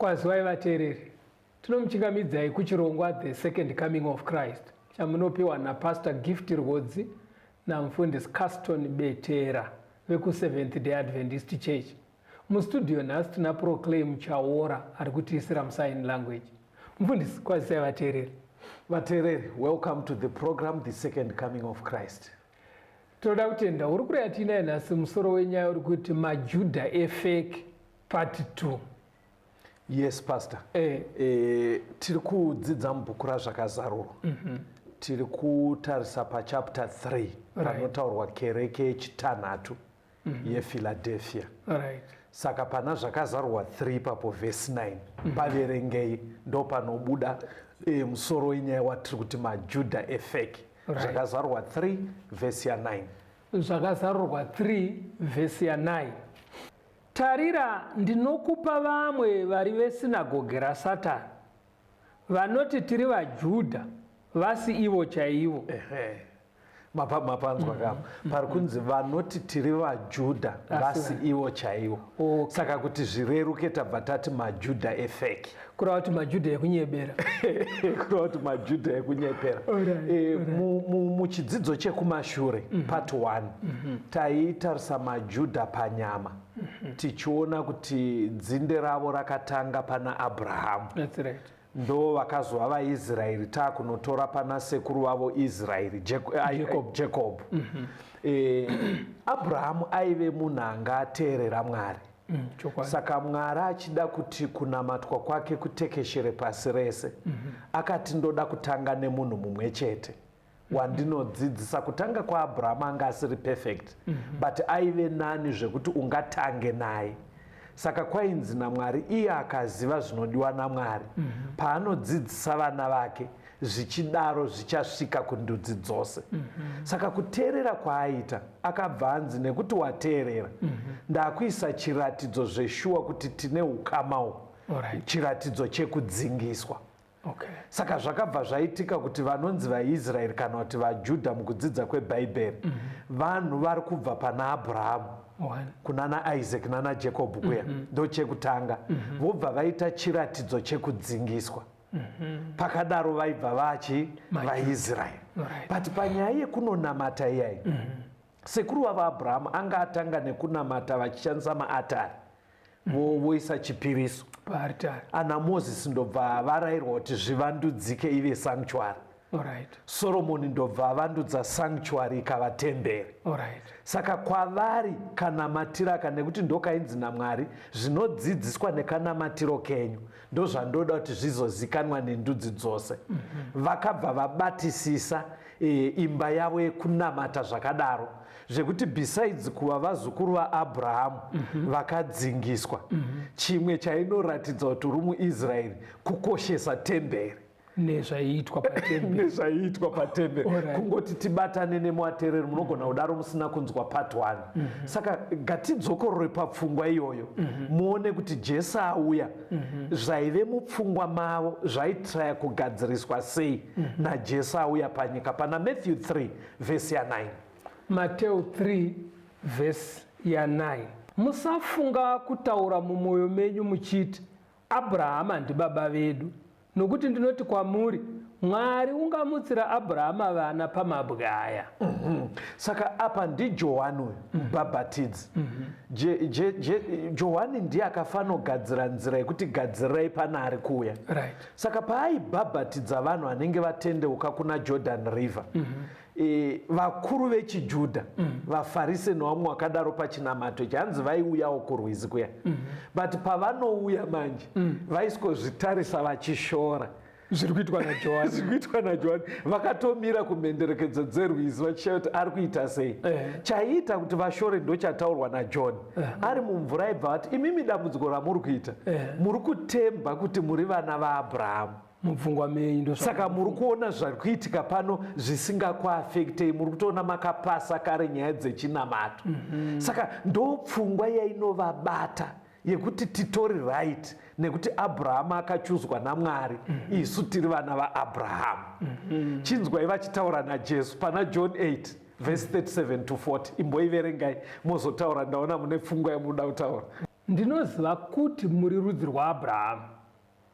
Kwazivai vateereri. Tinomuchingamidzai kuchirongwa The Second Coming of Christ chamunopiwa naPastor Gift Rwodzi naMufundisi Caston Betera vekuSeventh Day Adventist Church. Mustudio nhasi tina Proclaim Chaora ari kutiisira musign language. Mufundisi, kwazisai vateereri. Vateereri, welcome to the program The Second Coming of Christ. Tinoda kutenda uri kureya tiinaye nhasi musoro wenyaya uri kuti majuda efake part 2 yes pastor eh. Eh, tiri kudzidza mubhuku razvakazarurwa mm -hmm. tiri kutarisa pachapter 3 right. panotaurwa kereke yechitanhatu mm -hmm. yephiladelphia right. saka pana zvakazarurwa 3 papo vhesi 9 mm -hmm. paverengei ndo panobuda eh, musoro wenyaya watiri kuti majuda efake Right. Zvakazarurwa 3 vhesi ya 9. Zvakazarurwa 3 vhesi ya 9. Tarira, ndinokupa vamwe vari vesinagoge raSatani, vanoti tiri vaJudha, vasi ivo chaivo. Ehe. Mapa, mapanzwa mm -hmm. kapa mm-hmm. pari kunzi vanoti tiri vaJudha, vasi ivo chaivo. Okay. Saka kuti zvireruke tabva tati maJudha efeki. kureva kuti majudha ekunyebera kureva kuti majudha ekunyebera eh, muchidzidzo chekumashure mhm. part one mhm. taitarisa majudha panyama mhm. tichiona kuti dzinde ravo rakatanga pana abrahamu ndo vakazova vaisraeri taakunotora pana sekuru vavo israeri jacob eh, abrahamu aive munhu anga ateerera mwari Mm, saka mwari achida kuti kunamatwa kwake kutekeshere pasi rese mm -hmm. akati ndoda kutanga nemunhu mumwe chete wandinodzidzisa kutanga kwaabrahama anga asiri perfect mm -hmm. but aive nani zvekuti ungatange naye saka kwainzi namwari iye akaziva zvinodiwa namwari mm -hmm. paanodzidzisa vana vake zvichidaro zvichasvika kundudzi dzose mm -hmm. saka kuteerera kwaaita akabva anzi nekuti wateerera mm -hmm. ndakuisa chiratidzo zveshuwa kuti tine ukama uhu right. chiratidzo chekudzingiswa okay. saka zvakabva zvaitika kuti vanonzi vaisraeri kana kuti vajudha mukudzidza kwebhaibheri mm -hmm. vanhu vari kubva pana abrahamu kuna naisaac nana jacob kuya mm -hmm. ndochekutanga mm -hmm. vobva vaita chiratidzo chekudzingiswa mm -hmm Mhm. pakadaro vaibva vachi vaisraeri but panyaya yekunonamata iyai mhm. sekuru vavo abrahamu anga atanga nekunamata vachishandisa maatari mhm. voisa chipiriso ana mozisi ndobva varairwa kuti zvivandudzike ive sanctuary Alright. soromoni ndobva avandudza sanctuary ikava temberi Alright. saka kwavari kanamatiro aka nekuti ndokainzi namwari zvinodzidziswa nekanamatiro kenyu ndozvandoda kuti zvizozikanwa nendudzi dzose vakabva vabatisisa eh, imba yavo yekunamata zvakadaro zvekuti besides kuva vazukuru vaabrahamu vakadzingiswa chimwe chainoratidza kuti uri muisraeri kukoshesa temberi nezvaiitwa patembe nezvaiitwa patembe Alright. kungoti tibatane nemuatereri munogona kudaro musina kunzwa part one saka gatidzokorore papfungwa iyoyo muone kuti jesu auya zvaive mupfungwa mavo zvaitraya kugadziriswa sei najesu auya panyika pana matthew 3 vhesi ya 9 mateo 3 vhesi ya 9 musafunga kutaura mumwoyo menyu muchiti Abhurahama ndibaba vedu, nokuti ndinoti kwamuri, Mwari ungamutsira Abhurahama vana pamabwe aya. Mm -hmm. Saka apa ndiJohani uyu mm -hmm. mubhabhatidzi. Mm -hmm. Johani ndiye akafanogadzira nzira yekuti gadzirai pana ari kuuya. Right. Saka paaibhabhatidza vanhu vanenge vatendeuka kuna Jordan River. Mm -hmm. e, vakuru vechiJudha mm. vaFarise novamwe wakadaro pachinamato chanzi vaiuyawo kurwizi kuya mm -hmm. but pavanouya manje mm. vaiskozvitarisa vachishora zviri kuitwa najohani zviri kuitwa najohani vakatomira kumhenderekedzo dzerwizi vachishaya kuti ari kuita sei eh. chaiita kuti vashore ndochataurwa najohn eh. ari mumvura aibva vati imimi dambudziko ramuri kuita eh. muri kutemba kuti muri vana vaabrahamu mupfungwa menyu ndo saka muri kuona zviri kuitika pano zvisingakuafektei muri kutoona makapasa kare nyaya dzechinamato mm -hmm. saka ndo pfungwa yainovabata yekuti titori right nekuti abrahama akachuzwa namwari mm -hmm. isu tiri vana vaabrahama mm -hmm. chinzwai vachitaura najesu pana john 8 vhesi 37 to 40 imboiverengai mozotaura ndaona mune pfungwa yamunoda kutaura ndinoziva kuti muri rudzi rwaabrahama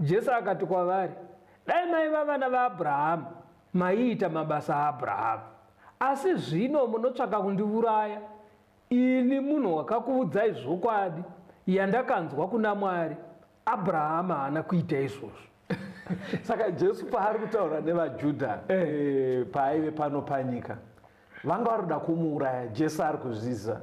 Jesu akati kwavari, Dai maiva vana vaAbhurahama, maiita mabasa aAbhurahama. Asi zvino munotsvaka kundiuraya, ini munhu wakakuudzai zvokwadi yandakanzwa kuna Mwari. Abhurahama haana kuita izvozvo. Saka Jesu paari kutaura nevaJudha eh. eh, paaive pano panyika, vanga vari kuda kumuuraya. Jesu ari kuzviziva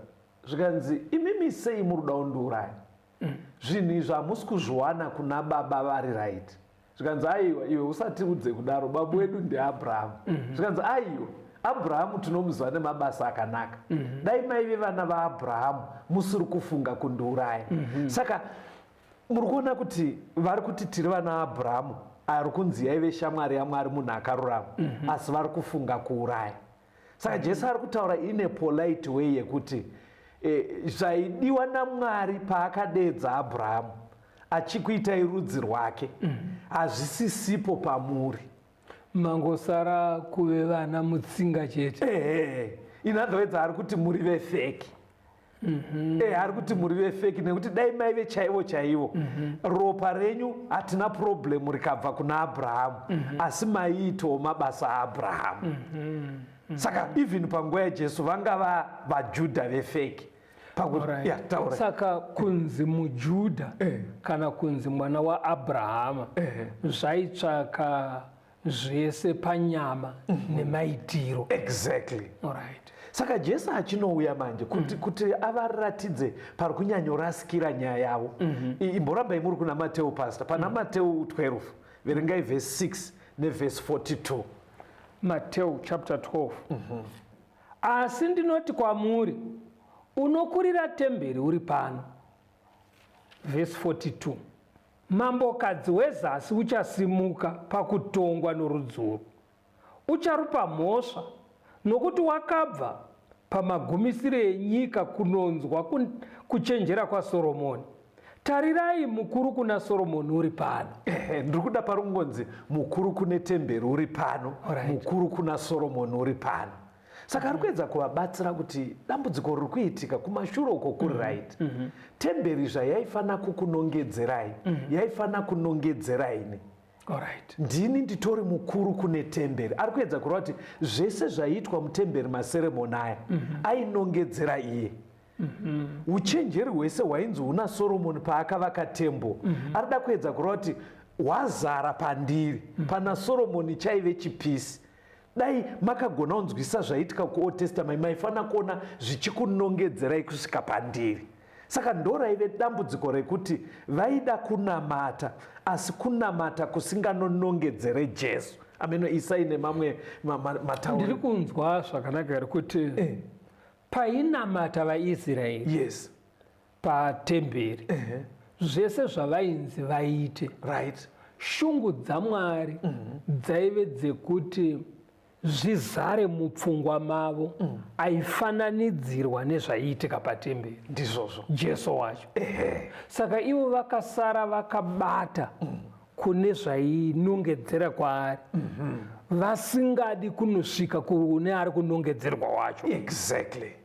zvikanzi, Imimi sei muri kuda kundiuraya? Umm zvinhu izvi hamusi kuzviwana kuna baba vari right zvikanzi aiwa iwe usatiudze kudaro babu wedu ndiabrahamu mhm. zvikanzi aiwa abrahamu tinomuziva nemabasa akanaka mhm. dai maive vana vaabrahamu musiri kufunga kundiuraya mhm. saka muri kuona kuti vari kuti tiri vana vaabrahamu ari kunzi yaive shamwari yamwari munhu akarurama asi vari kufunga kuuraya saka jesu ari kutaura in a polite way yekuti eh, zvaidiwa namwari paakadeedza abrahamu achikuitai rudzi rwake mm. hazvisisipo pamuri mangosara kuve vana mutsinga chete ehe in other words ari kuti muri vefeki mm -hmm. e, ari kuti muri vefeki nekuti dai maive chaivo chaivo mm -hmm. ropa renyu hatina problemu rikabva kuna abrahamu mm -hmm. asi maiitawo mabasa aabrahamu mm -hmm. mm -hmm. saka even panguva yajesu vanga vajudha vefeki saka kunzi mujudha eh. kana kunzi mwana waabrahama eh. zvaitsvaka zvese panyama mm -hmm. nemaitiro exactly right. saka jesu achinouya manje kuti, mm -hmm. kuti avaratidze pari kunyanyorasikira nyaya yavo mm -hmm. imborambai muri kuna mateu pasta pana mm -hmm. mateu 12 verengai vhesi 6 nevhesi 42 mateu chapter 12 mm -hmm. asi ndinoti kwamuri unokurira temberi uri pano vhesi 42 Mambokadzi wezasi uchasimuka pakutongwa norudzungu, ucharupa mhosva, nokuti wakabva pamagumisire enyika kunonzwa kuchenjera kwaSoromoni. Tarirai, mukuru kuna Soromoni uri pano. Ehe, ndiri kuda pari kungonzi mukuru kune temberi uri pano, right. Mukuru kuna Soromoni uri pano. saka ari kuedza kuvabatsira kuti dambudziko riri kuitika kumashure uko kuri mhm. right mhm. temberi zvayaifanira kukunongedzerai mhm. yaifanira kunongedzera ini Alright. ndini nditori mukuru kune temberi ari kuedza kureva kuti zvese zvaiitwa mutemberi maseremoni aya mm -hmm. ainongedzera iye mm -hmm. uchenjeri hwese hwainzi huna soromoni paakavaka tembo mm -hmm. ari da kuedza kureva kuti hwazara pandiri mm -hmm. pana soromoni chaive chipisi Dai makagona kunzwisisa zvaiitika kuOld Testament maifanira kuona zvichikunongedzerai kusvika pandiri. Saka ndoraive dambudziko rekuti vaida kunamata asi kunamata kusinganonongedzere Jesu. Ameno isai nemamwe matauro. Ndiri kunzwa zvakanaka here kuti eh. painamata vaIsraeri. Yes. patemberi uh -huh. zvese zvavainzi vaite right. shungu dzamwari uh mhm. -huh. dzaive dzekuti zvizare mupfungwa mavo uh mhm. -huh. aifananidzirwa nezvaiitika patemberi ndizvozvo jesu wacho uh -huh. saka ivo vakasara vakabata uh mhm. -huh kune zvainongedzera kwaari mhm. vasingadi kunosvika kune ari kunongedzerwa wacho exactly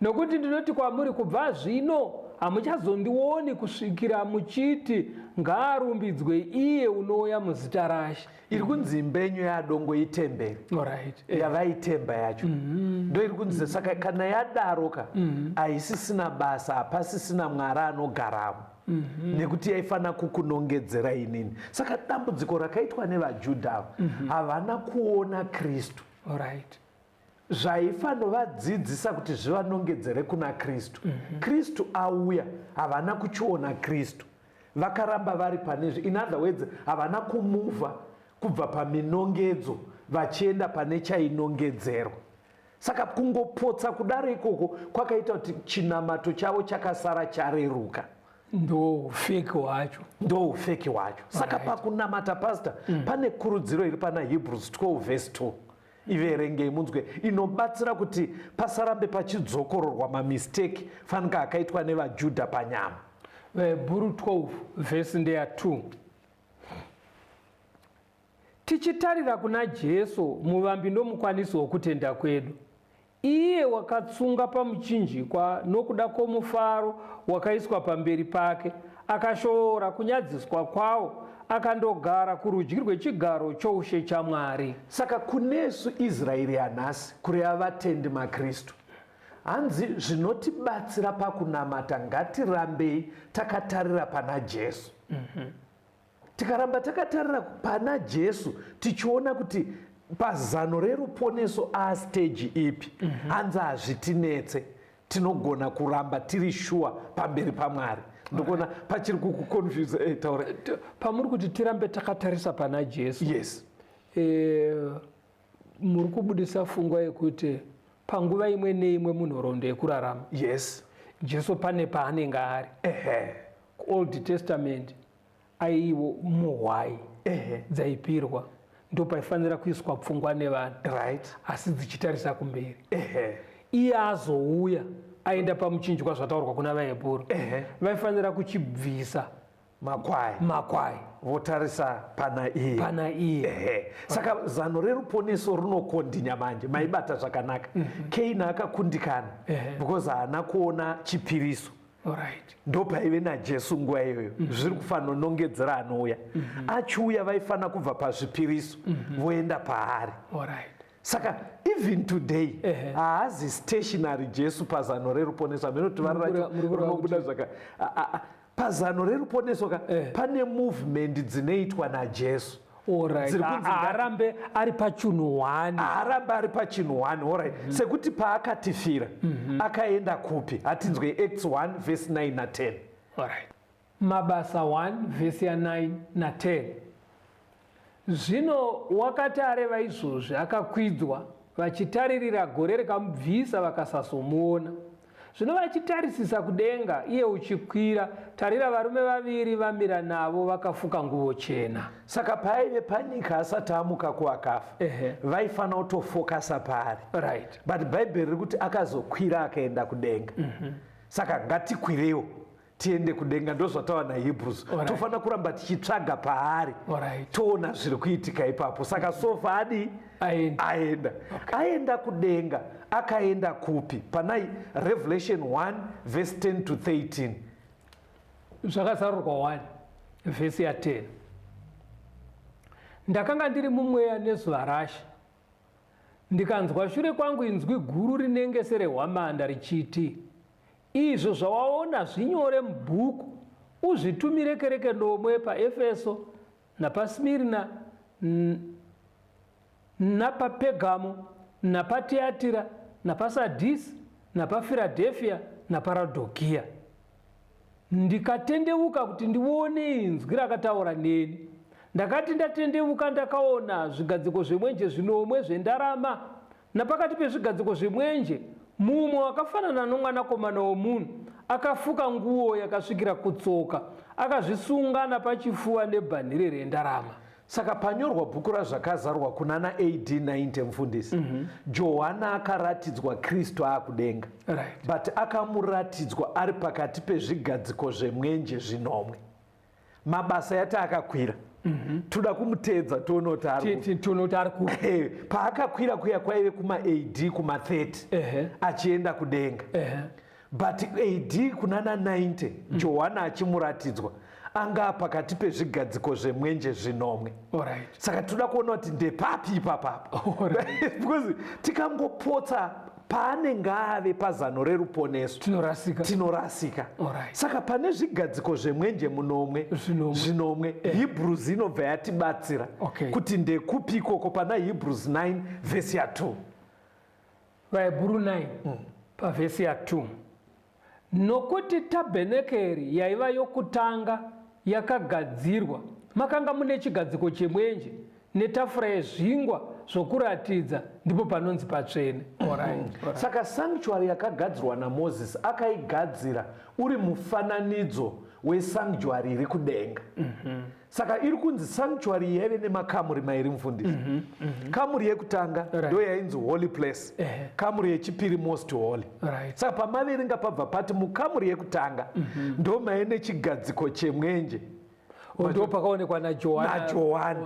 Nokuti ndinoti kwamuri, kubva zvino hamuchazondioni kusvikira muchiti, Ngaarumbidzwe iye unouya muzita raShe. Iri kunzi imba yenyu yaadongo itemberi Alright. Eh. yavaitemba yacho mm-hmm. ndo iri kunzi saka kana yadaroka mm-hmm. haisisina basa hapasisina mwari anogaramo Mm-hmm. nekuti yaifanira kukunongedzera inini saka dambudziko rakaitwa nevajudha ava mm-hmm. havana kuona kristu right. Zvaifanovadzidzisa kuti zvivanongedzere kuna Kristu. Mm -hmm. Kristu auya, havana kuchiona Kristu. Vakaramba vari pane zvi. In other words, havana kumuva kubva paminongedzo vachienda pane chainongedzerwa. Saka kungopotsa kudaro ikoko kwakaita kuti chinamato chavo chakasara chareruka ndoufeki wacho ndoufeki wacho saka right. pakunamata pasta mm. pane kurudziro iri pana hebrews 12 vhesi 2 iverengei munzwe inobatsira kuti pasarambe pachidzokororwa mamisteki fanika akaitwa nevajudha panyama vahebhuru 12 vhesi ndeya 2 tichitarira kuna jesu muvambi ndomukwanisi wokutenda kwedu Iye wakatsunga pamuchinjikwa nokuda kwomufaro wakaiswa pamberi pake, akashoora kunyadziswa kwawo, akandogara kurudyi rwechigaro choushe chaMwari. Saka kunesu Israeri yanhasi, kureva vatendi maKristu, hanzi zvinotibatsira pakunamata ngatirambei takatarira pana Jesu. Tikaramba takatarira pana Jesu tichiona kuti pazano reruponeso asteji ipi mm -hmm. hanzi hazvitinetse tinogona kuramba tiri shuwa pamberi pamwari ndokuona pachiri kukuconfuse hey, eh, taura pamuri kuti tirambe takatarisa pana jesu yes e, muri kubudisa fungwa yekuti panguva imwe neimwe munhoroondo yekurarama yes jesu pane paanenge ari old testament aiwo muhwai Ehe. dzaipirwa ndo paifanira kuiswa pfungwa nevanhu Right. asi dzichitarisa kumberi Ehe. iye azouya aenda pamuchinjwa zvataurwa kuna vaebhuru Ehe. vaifanira kuchibvisa Makwai. makwai Votarisa pana iye. pana iye Ehe. Saka zano reruponeso rinokondinya manje maibata zvakanaka. Kaini akakundikana Ehe. because haana kuona chipiriso. Alright. ndopaive najesu nguva iyoyo mm -hmm. zviri kufanonongedzera anouya mm -hmm. achiuya vaifanira kubva pazvipiriso mm -hmm. voenda paari Alright saka even today haazi stationary jesu pazano reruponeso amene kuti vara racho rinobuda zvaka pazano reruponeso ka pane movement dzinoitwa najesu arambe ari pachinhu one arambe ari pachinhu one orit mm -hmm. sekuti paakatifira mm -hmm. akaenda kupi hatinzwe acts 1 vhesi 9 na 10 orit mabasa 1 vhesi ya 9 na 10 zvino wakati areva izvozvi akakwidzwa vachitaririra gore rikamubvisa vakasazomuona Zvino vachitarisisa kudenga, iye uchikwira, tarira, varume vaviri vamira navo vakafuka nguvo chena. Saka paive panyika asati amuka kuakafa, vaifanira kutofokasa paari. Right. But Bhaibheri riri kuti akazokwira akaenda kudenga. Mm -hmm. Saka ngatikwirewo. tiende kudenga ndozvatawana hebrews right. tofanira kuramba tichitsvaga paari right. toona zviri kuitika ipapo saka sofa adi aenda, aenda. Okay. aenda kudenga akaenda kupi panai revelation 1 verse 10 to 13 zvakazarurwa 1 vhesi ya 10 ndakanga ndiri mumweya nezuva rashe ndikanzwa shure kwangu inzwi guru rinenge serehwamanda richiti Izvo zvawaona zvinyore mubhuku, uzvitumire kereke nomwe paEfeso, napaSmirna, napaPergamo, napaTiatira, napaSadhisi, napaFiradhefia, napaRadhokia. Ndikatendeuka kuti ndione inzwi rakataura neni. Ndakati ndatendeuka ndakaona zvigadziko zvemwenje zvinomwe zvendarama Napakati pezvigadziko zvemwenje, mumwe wakafanana noMwanakomana womunhu akafuka nguo yakasvikira kutsoka, akazvisunga napachifuva nebhanhire rendarama. Saka panyorwa bhuku raZvakazarwa kunana AD 90, Mfundisi, mm -hmm. Johana akaratidzwa Kristu aakudenga. Right. But akamuratidzwa ari pakati pezvigadziko zvemwenje zvinomwe. mabasa yati akakwira mm -hmm. toda kumuteedza tione kuti ari eh, paakakwira kuya kwaive kuma ad kuma 30 uh -huh. achienda kudenga uh -huh. but ad kunana 90 mm -hmm. johana achimuratidzwa anga pakati pezvigadziko zvemwenje zvinomwe right. saka toda kuona kuti ndepapi ipapapa right. because tikangopotsa paanenge ave pazano reruponeso tinorasika tinorasika Alright. saka pane zvigadziko zvemwenje munomwe Zvinomwe. zvinomwe Eh. hebrews inobva yatibatsira Okay. kuti ndekupi ikoko pana hebrews 9 vhesi ya 2 vahebhuru 9 pavhesi ya 2 Nokuti tabhenekeri yaiva yokutanga yakagadzirwa, makanga mune chigadziko chemwenje netafura yezvingwa zvokuratidza, ndipo panonzi patsvene. Alright. Saka sanctuary yakagadzirwa naMoses akaigadzira uri mufananidzo wesanctuary iri kudenga. saka iri kunzi sanctuary yaive nemakamuri mairi mufundisi mm -hmm, mm -hmm. kamuri yekutanga right. ndo yainzi holy place uh -huh. kamuri yechipiri most holy right. saka pamaverenga pabva pati mukamuri yekutanga mm -hmm. ndo maive nechigadziko chemwenje oh, ndo pakaonekwa najohani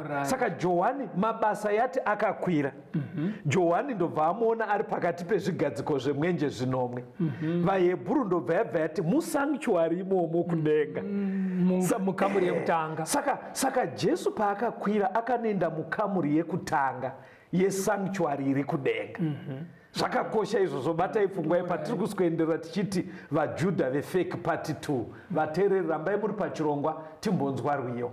right. saka johani mabasa yati akakwira Mm -hmm. Johani ndobva amuona ari pakati pezvigadziko zvemwenje zvinomwe. Mm -hmm. VaHebhuru ndobva yabva yati musanktuari imomo kudenga. Mm -hmm. Mukamuri yekutanga. Saka, saka Jesu paakakwira akanoenda mukamuri yekutanga yesanktuari iri kudenga. Mm -hmm zvakakosha izvo zvobatai pfungwa ye patiri kusikuenderera tichiti vajudha vefake party two vateereri rambai muri pachirongwa timbonzwa rwiyo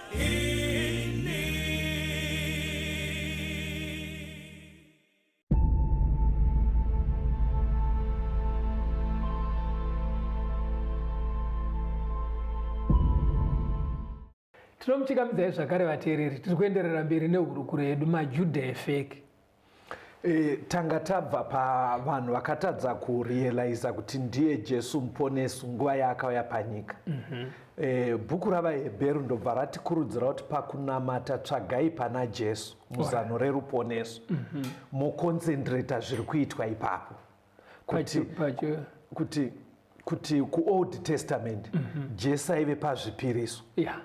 tinomuchikamidzai zvakare vateereri tiri kuenderera mberi nehurukuro yedu majudha efeki E, tanga tabva pavanhu vakatadza kurealiza kuti ndiye jesu muponesi nguva yaakauya panyika mm -hmm. e, bhuku ravaheberu ndobva ratikurudzira kuti pakunamata tsvagai pana jesu muzano reruponeso mm -hmm. mokonzendireta zviri kuitwa ipapo kuti, kuti, kuti kuold testament mm -hmm. jesu aive pazvipiriso yeah.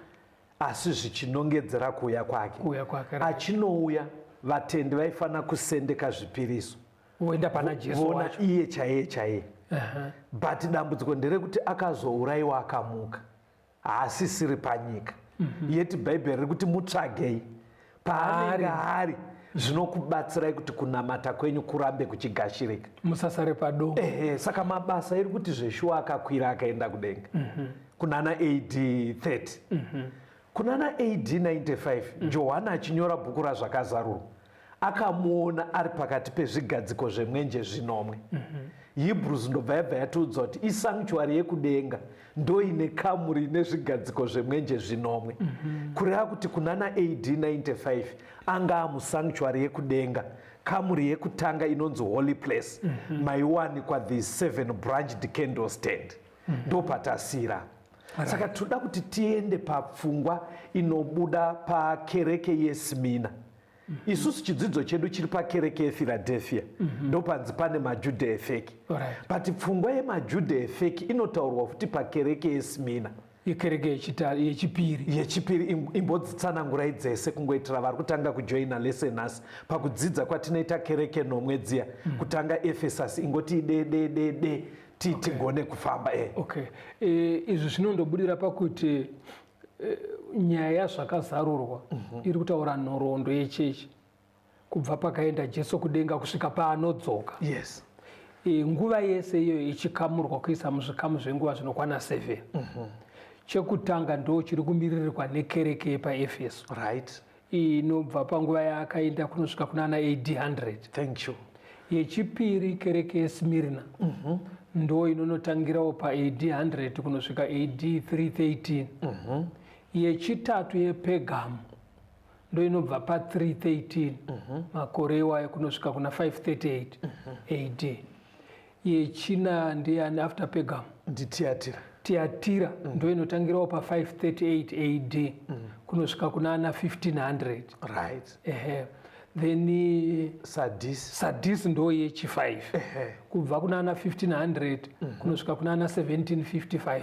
asi zvichinongedzera kuuya kwake achinouya vatendi vaifanira kusendeka zvipiriso voenda pana jesu vona iye chaiye chaiye uh -huh. but dambudziko nderekuti akazourayiwa akamuka haasisiri panyika mm -hmm. yeti bhaibheri riri kuti mutsvagei paanenge ari zvinokubatsirai kuti kunamata kwenyu kurambe kuchigashirika musasare padoo ehe saka mabasa iri kuti zveshuwa akakwira akaenda kudenga mm -hmm. kunana ad 30 mm -hmm. kunana ad 95 mm -hmm. johani achinyora bhuku razvakazarurwa akamuona ari pakati pezvigadziko zvemwenje zvinomwe mhm. hebrews ndobva yabva yatiudza kuti isanctuary yekudenga ndoine kamuri ine zvigadziko zvemwenje zvinomwe mhm. kureva kuti kunana ad 95 anga amusanctuary yekudenga kamuri yekutanga inonzi holy place mhm. maiwanikwa the seven branch decandle stand ndopatasira saka tinoda kuti tiende papfungwa inobuda pakereke yesmina mm -hmm. isusu chidzidzo chedu chiri pakereke yephiladelphia mm -hmm. ndopanzi pane majudha efeki right. but pfungwa yemajudha efeki inotaurwa futi pakereke yesmina yekereke yechipiri yechipiri imbodzitsanangurai dzese kungoitira vari kutanga kujoina lese nhasi pakudzidza kwatinoita kereke nomwe dziya mm. kutanga efesasi ingoti dededede ti okay. tigone kufamba e okay. e, izvi zvinondobudira pakuti e, nyaya yazvakazarurwa mm -hmm. iri kutaura nhoroondo yechechi kubva pakaenda jesu kudenga kusvika paanodzoka yes e, nguva yese iyoyo ichikamurwa kuisa muzvikamu zvenguva zvinokwana 7 mm -hmm. chekutanga ndo chiri kumiririrwa nekereke yepaefeso right inobva panguva yaakaenda kunosvika kuna ana ad 100 thank you yechipiri kereke yesmirna mm -hmm. ndo inonotangirawo paad 100 kunosvika ad 313 mm -hmm. yechitatu yepegamo ndo inobva pa 313 mm -hmm. makore iwayo kunosvika kuna 538 mm -hmm. ad Yechina ndeyani after Pergam? NdiTiatira. Tiatira mm. ndo inotangirawo pa 538 AD mm. kunosvika kuna ana 1500. Right. Ehe. Then eh, Sadis. Sadis ndo yechi 5. Ehe. Kubva kuna ana 1500 mm -hmm. kunosvika kuna ana 1755.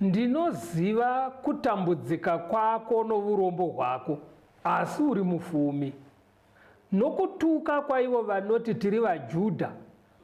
Ndinoziva kutambudzika kwako nourombo hwako, asi uri mufumi. Nokutuka kwaivo vanoti tiri vaJudha,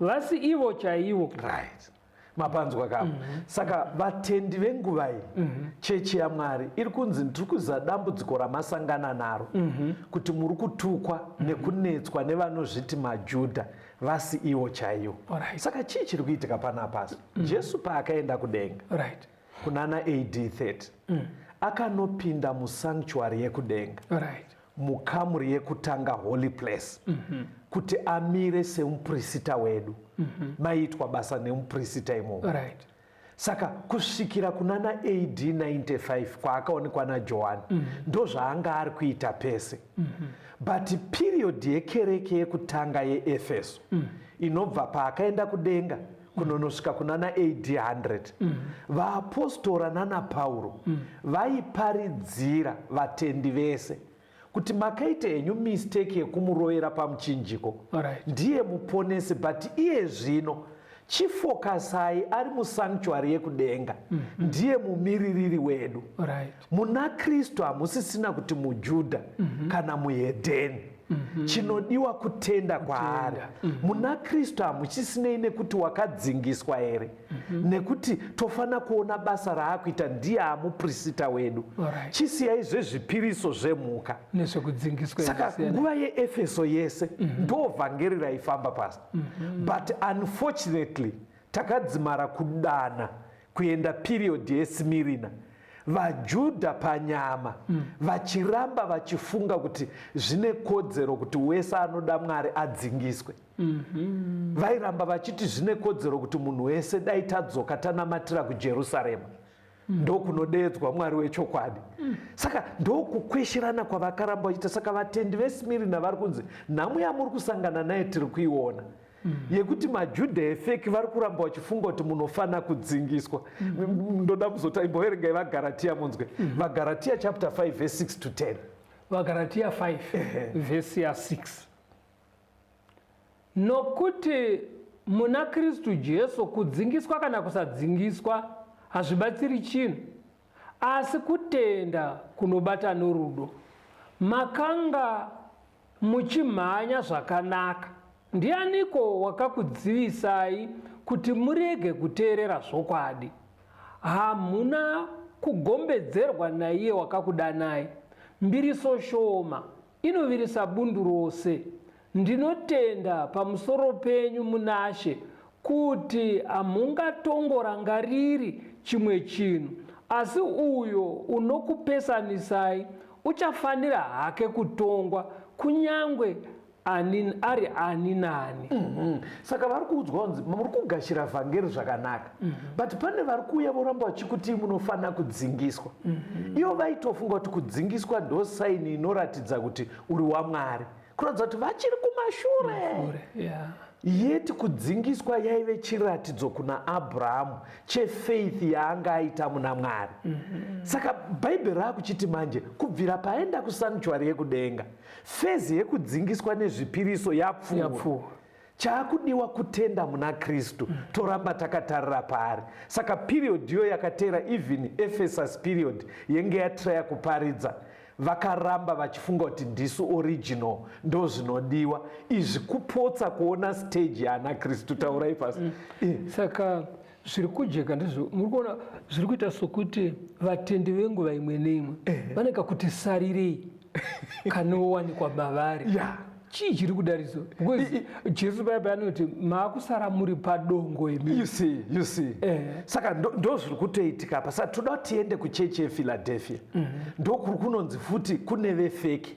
vasi ivo chaivo. Right. Mapanzwa kavo. Mm -hmm. Saka vatendi venguva iyi, mm -hmm. chechi yaMwari iri kunzi ndiri kuziva dambudziko ramasangana naro, mm -hmm. kuti muri kutukwa mm -hmm. nekunetswa nevanozviti maJudha. vasi iwo chaiwo right. saka chii chiri kuitika panapasi mm. jesu paakaenda kudenga right. kunana ad 30 mm. akanopinda musanctuary yekudenga right. mukamuri yekutanga holy place mm -hmm. kuti amire semupurisita wedu mm -hmm. maiitwa basa nemupurisita imomo right. Saka kusvikira kunana AD 95 kwaakaonekwa naJohani mm -hmm. ndozvaanga ari kuita pese mm -hmm. but period yekereke yekutanga yeEfeso mm -hmm. inobva paakaenda kudenga kunonosvika kunana AD 100 mm -hmm. vaapostora nana Pauro mm -hmm. vaiparidzira vatendi vese mm kuti makaita henyu mistake yekumurovera pamuchinjiko Alright. ndiye muponesi but iye zvino chifokasai ari musanctuary yekudenga ndiye mumiririri wedu Alright. muna kristu hamusisina kuti mujudha kana muhedheni chinodiwa kutenda kwaari muna kristu hamuchisinei nekuti wakadzingiswa here Mm -hmm. nekuti tofanira kuona basa raakuita ndiye amuprisita wedu right. chisiyai zvezvipiriso zvemhuka saka nguva yeefeso yese mm -hmm. ndo vhangeri raifamba pasi mm -hmm. but unfortunately takadzimara kudana kuenda piriyodhi yesimirina vajudha panyama mm. vachiramba vachifunga kuti zvine kodzero kuti wese anoda mwari adzingiswe mm -hmm. vairamba vachiti zvine kodzero kuti munhu wese dai tadzoka tanamatira kujerusarema mm. ndokunodeedzwa mwari wechokwadi mm. saka ndokukwesherana kwavakaramba vachiita saka vatendi vesimirina vari kunzi nhamo yamuri kusangana naye tiri kuiona mm. Mm. yekuti majudha efeki vari kuramba vachifunga kuti munofanira kudzingiswa mm. ndoda kuzota imboverengai vagaratiya munzwe mm. vagaratiya chapter 5 vese 6 to 10 vagaratiya 5 vese ya 6 Nokuti muna Kristu Jesu kudzingiswa kana kusadzingiswa hazvibatsiri chinhu, asi kutenda kunobata norudo. Makanga muchimhanya zvakanaka. Ndianiko wakakudzivisai kuti murege kuteerera zvokwadi? Hamuna kugombedzerwa naiye wakakudanai. Mbiriso shoma inovirisa bundu rose. Ndinotenda pamusoro penyu munaShe kuti hamhungatongorangariri chimwe chinhu, asi uyo unokupesanisai uchafanira hake kutongwa, kunyange ani ari ani nani. Saka vari kuudzwa kunzi muri kugashira vhangeri zvakanaka. Mm -hmm. But pane vari kuuya voramba vachikuti munofanira kudzingiswa. Mm -hmm. Ivo vaitofunga kuti kudzingiswa ndo saini inoratidza kuti uri waMwari. Kuratidza kuti vachiri kumashure. Mashure, yeah yeti kudzingiswa yaive chiratidzo kuna abrahamu chefaith yaanga aita muna mwari mm -hmm. saka bhaibheri raakuchiti manje kubvira paaenda kusanctuary yekudenga fezi yekudzingiswa nezvipiriso yapfuura Chaakudiwa kutenda muna Kristu toramba takatarira paari. Saka period yo yakateera even Ephesus period yenge yatraya kuparidza vakaramba vachifunga kuti ndisu original ndozvinodiwa izvi kupotsa kuona stage yaana Kristu taurai pasi. Mm. Eh. Saka zviri kujeka ndizvo muri kuona zviri kuita sokuti vatendi venguva imwe neimwe vane kakuti sarirei kanowanikwa mavari yeah. chii chiri kudariso because jesu paya paya anoti maakusara muri padongo imi you see you see eh. saka ndo zviri kutoitika apa saka toda tiende kuchechi yefiladelphia mm -hmm. ndokuri kunonzi futi kune vefeki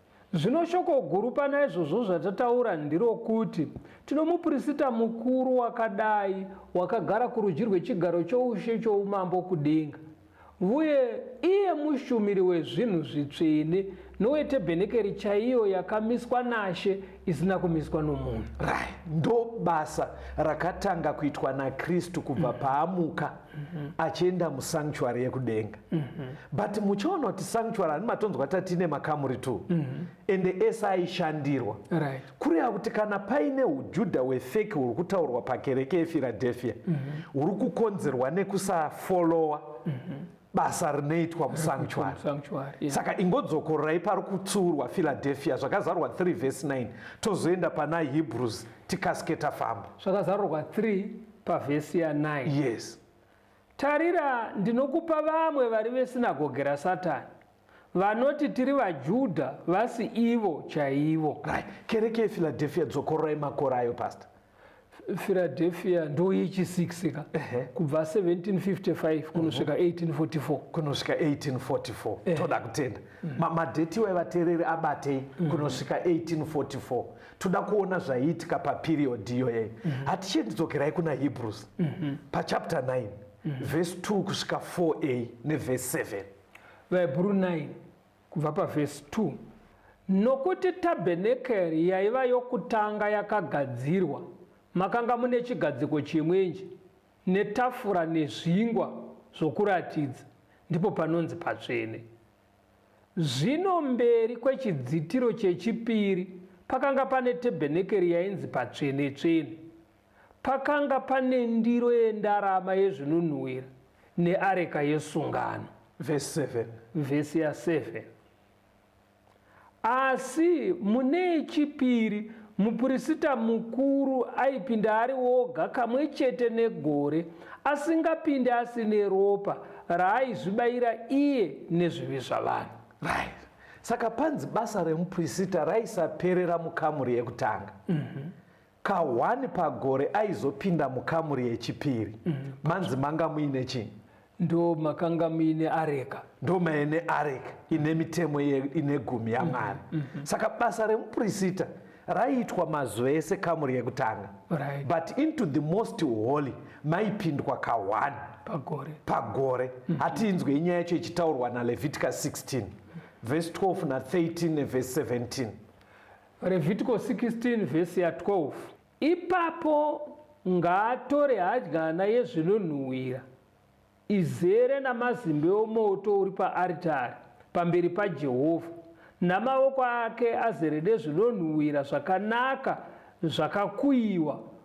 Zvino shoko guru pana izvozvo zvatataura ndirokuti, tino Muprisita Mukuru wakadai, wakagara kurudyi rwechigaro choushe choumambo kudenga, vuye iye mushumiri wezvinhu zvitsvene nowetebhenekeri chaiyo yakamiswa naShe, isina kumiswa nomunhu. Right. Ndobasa rakatanga kuitwa naKristu kubva paamuka. mhm. achienda musanctuary yekudenga mhm. but muchiona kuti sanctuary ani matonzwa tatine makamuri two mhm. ende ese aishandirwa kureva kuti kana paine ujudha wefeki huri kutaurwa pakereke yefiradefia huri kukonzerwa nekusafolowa basa rinoitwa musanctuary saka ingodzokorerai pari kutsiurwa filadefia zvakazarwa 3 vhesi 9 tozoenda pana hebrews tikasike tafamba zvakazarurwa 3 pavhesi ya 9 yes tarira ndinokupa vamwe vari vesinagoge rasatani vanoti tiri vajudha vasi ivo chaivo right kereke yefiladelfia dzokororai makore ayo pastor filadelfia ndoyechi 6 ka kubva 1755 kunosvika 1844 mhm. kunosvika 1844 toda kutenda mm. madheti iwayi vateereri abatei mm. kunosvika 1844 toda kuona zvaiitika paperiod iyoye mm -hmm. hatichie ndidzokerai kuna hebrews mm -hmm. pachapter 9 mm -hmm. vhesi 2 kusvika 4a nevhesi 7 vahebhuru 9 kubva pavhesi 2 nokuti tabhenekeri yaiva yokutanga yakagadzirwa makanga mune chigadziko chimwenje netafura nezvingwa zvokuratidza ndipo panonzi patsvene Zvino mberi kwechidzitiro chechipiri pakanga pane tebhenekeri yainzi patsvene-tsvene. Pakanga pane ndiro yendarama yezvinonhuhwira neareka yesungano. Vhesi 7. Vhesi ya 7. Asi mune yechipiri, mupirisita mukuru aipinda ari oga kamwe chete negore, asingapinde asine ropa raaizvibaira iye nezvivi zvavanhu. Right. Saka panzi basa remupirisita raisaperera mukamuri yekutanga. Ka one pagore aizopinda mukamuri yechipiri. Mm. Manzi manga muine chii? Ndo makanga muine areka. Ndo maine areka ine mitemo ine gumi yaMwari. Mm -hmm. Saka basa remupurisita raiitwa mazuva ese kamuri yekutanga right. but into the most holy maipindwa kahwani pagore, pagore. Mm -hmm. hatiinzwe inyaya yacho ichitaurwa naleviticus 16 verse 12 na 13 neverse 17 Revhitiko 16 vhesi ya 12 Ipapo ngaatore hadyana yezvinonhuhwira izere namazimbe omoto uri paaritari pamberi paJehovha, namaoko ake azere nezvinonhuhwira zvakanaka zvakakuyiwa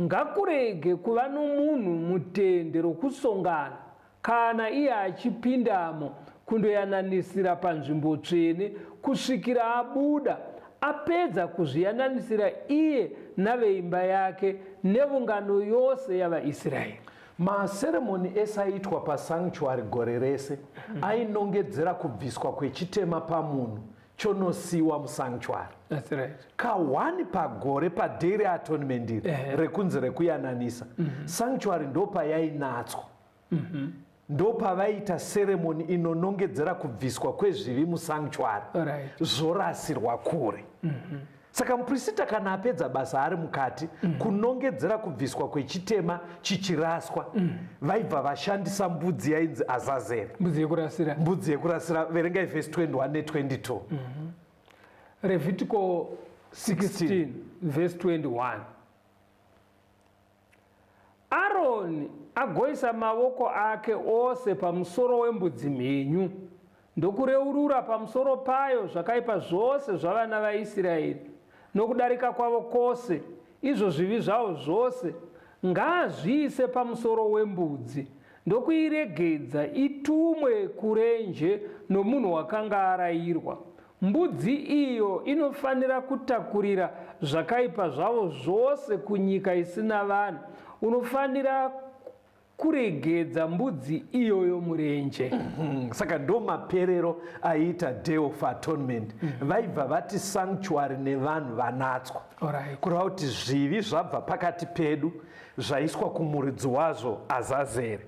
Ngakurege kuva nomunhu mutende rokusongana, kana iye achipindamo kundoyananisira panzvimbo tsvene, kusvikira abuda, apedza kuzviyananisira iye naveimba yake nevungano yose yavaIsiraeri. Maseremoni ese aiitwa pasanctuary gore rese ainongedzera kubviswa kwechitema pamunhu chonosiwa musanctuary That's right. kahwani pagore padaily atonement iri Ehe. rekunzi rekuyananisa sanctuary ndopayainatswa ndopavaiita seremoni inonongedzera kubviswa kwezvivi musanctuary Alright. zvorasirwa kure Saka muprisita kana apedza basa ari mukati mm -hmm. kunongedzera kubviswa kwechitema chichiraswa mm -hmm. vaibva vashandisa mbudzi yainzi azazeri mbudzi yekurasira mbudzi yekurasira verengai vhesi 21 ne22 mm -hmm. revhitiko 16 vhesi 21 Aroni agoisa mavoko ake ose pamusoro wembudzi mhenyu ndokureurura pamusoro payo zvakaipa zvose zvavana vaIsiraeri nokudarika kwavo kwose, izvo zvivi zvavo zvose, ngaazviise pamusoro wembudzi ndokuiregedza itumwe kurenje nomunhu wakanga arayirwa. Mbudzi iyo inofanira kutakurira zvakaipa zvavo zvose kunyika isina vanhu. Unofanira kuregedza mbudzi iyoyo murenje. Hmm, saka ndo maperero aiita day of atonement hmm. vaibva mm -hmm. vati sanctuary nevanhu vanatswa right. kureva kuti zvivi zvabva pakati pedu zvaiswa kumuridzi wazvo azazere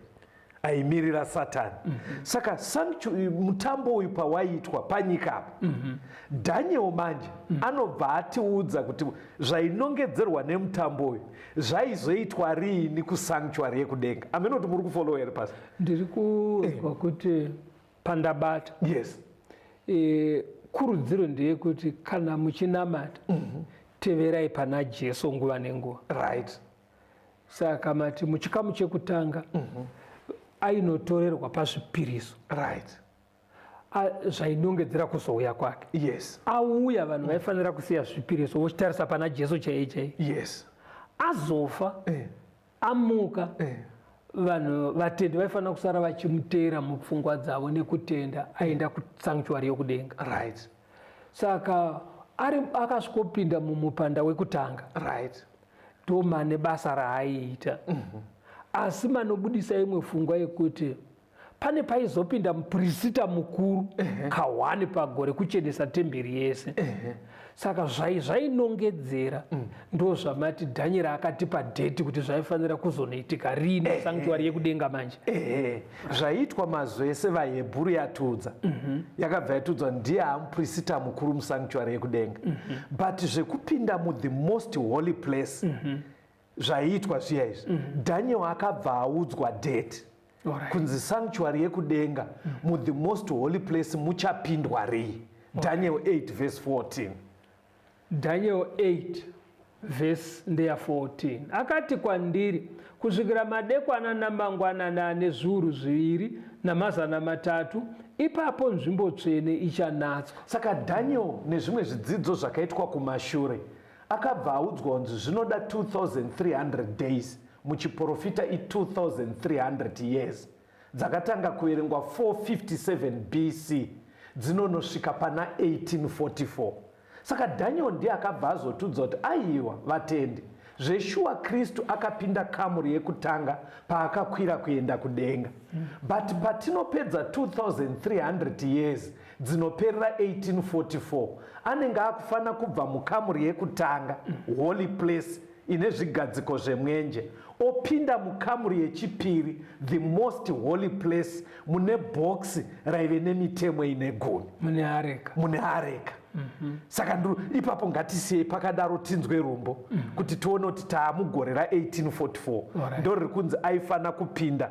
aimirira satani mm -hmm. saka mutambo uyu pawaiitwa panyika apa mm -hmm. daniel manje mm -hmm. anobva atiudza kuti zvainongedzerwa nemutambo uyu zvaizoitwa riini kusanctuary yekudenga ameno kuti muri kufollow here pasi ndiri kunzwa eh. kuti pandabata yes e, kurudziro ndeyekuti kana muchinamata mm -hmm. teverai pana jesu nguva nenguva right saka mati muchikamu chekutanga mm -hmm. ainotorerwa pazvipiriso right zvainongedzera kuzouya kwake yes auya vanhu vaifanira kusiya zvipiriso vochitarisa pana jesu chaiye chaiye yes azofa eh. amuka eh. vanhu vatendi vaifanira kusara vachimuteera mupfungwa dzavo nekutenda aenda kusanctuary yokudenga right saka ari akasvikopinda mumupanda wekutanga right ndomane basa raaiita mm -hmm. asi manobudisa imwe fungwa yekuti pane paizopinda mupirisita mukuru kahwani pagore kuchenesa temberi yese saka zvai zvainongedzera mm. ndo zvamati dhanyera akatipa dheti kuti zvaifanira kuzonoitika riini sanctuary yekudenga manje zvaiitwa mazuva ese vahebhuru yatiudza mhm. yakabva yatiudzwa ndiye amupirisita mukuru musanctuary yekudenga mhm. but zvekupinda muthe most holy place mhm. zvaiitwa zviya izvi mm -hmm. daniel akabva audzwa date right. kunzi sanctuary yekudenga mm -hmm. mu the most holy place muchapindwa rei okay. daniel 8 verse 14 daniel 8 vhesi ndeya 14 akati kwandiri kusvikira madekwana namangwanana ane zviuru zviviri namazana matatu ipapo nzvimbo tsvene ichanatswa saka daniel nezvimwe zvidzidzo zvakaitwa kumashure mm -hmm Akabva audzwa kunzi zvinoda 2300 days muchiporofita i 2300 years dzakatanga kuverengwa 457 BC dzinonosvika pana 1844. Saka Daniel ndiye akabva azotiudza kuti aiwa vatendi zveshuwa kristu akapinda kamuri yekutanga paakakwira kuenda kudenga but patinopedza 2300 years dzinoperera 1844 anenge akufana kubva mukamuri yekutanga holy place ine zvigadziko zvemwenje opinda mukamuri yechipiri the most holy place mune bhokisi raive nemitemo ine gumi mune areka mune areka mm -hmm. saka ndiro ipapo ngatisiyei pakadaro tinzwe rumbo mm -hmm. kuti tione kuti taamugore ra 1844 right. ndo riri kunzi aifanira kupinda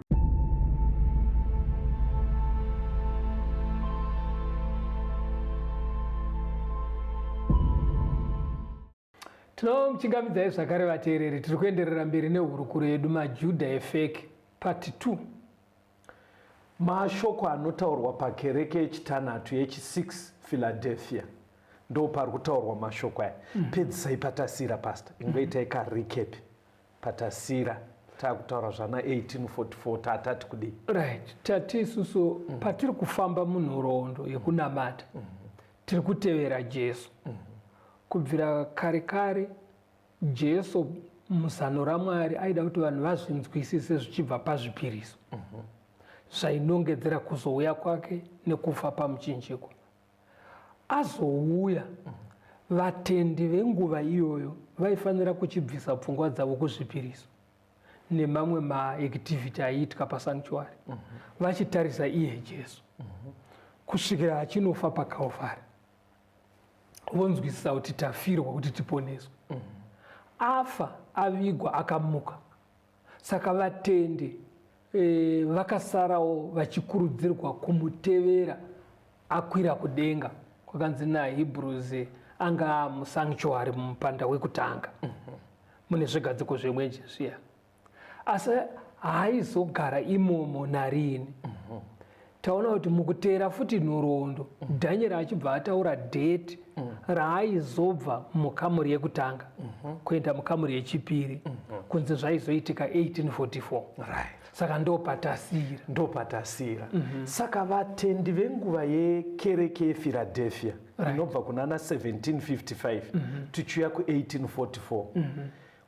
tinomuchingamidzai zvakare vateereri tiri kuenderera mberi nehurukuro yedu majudha efeki part 2 mashoko anotaurwa pakereke yechitanhatu yechi6 philadelphia ndo pari kutaurwa mashoko aya mm. pedzisai patasira pasta ingoitai mm. karecapi Patasira takutaura zvana 1844 tatati kudii? Right. Tati isusu mm. patiri kufamba munhoroondo yekunamata mm. tiri kutevera Jesu. Mm. Kubvira kare kare Jesu muzano raMwari aida kuti vanhu vazvinzwisise zvichibva pazvipiriso. Mm -hmm. Zvainongedzera kuzouya kwake nekufa pamuchinjikwa. azouya, vatendi venguva iyoyo vaifanira kuchibvisa pfungwa dzavo kuzvipiriso nemamwe maactivity aiitwa pasanctuary mm -hmm. vachitarisa iye Jesu mm -hmm. kusvikira achinofa paKalvari vonzwisisa kuti tafirwa kuti tiponeswe mm -hmm. afa avigwa akamuka Saka vatendi e, vakasarawo vachikurudzirwa kumutevera akwira kudenga kwakanzi naHebrews anga musanctuary mumupanda wekutanga mhm. mune zvigadziko zvemwenje zviya asi haizogara imomo narini mhm. taona kuti mukuteera futi nhoroondo mm. dhanyera achibva ataura dheti mm. raaizobva mukamuri yekutanga mm -hmm. kuenda mukamuri yechipiri mm -hmm. kunzi zvaizoitika 1844 right. saka ndopatasira ndopatasira mm -hmm. saka vatendi venguva yekereke yephiladelphia inobva right. kunana 1755 mm -hmm. tichiuya ku1844 mm -hmm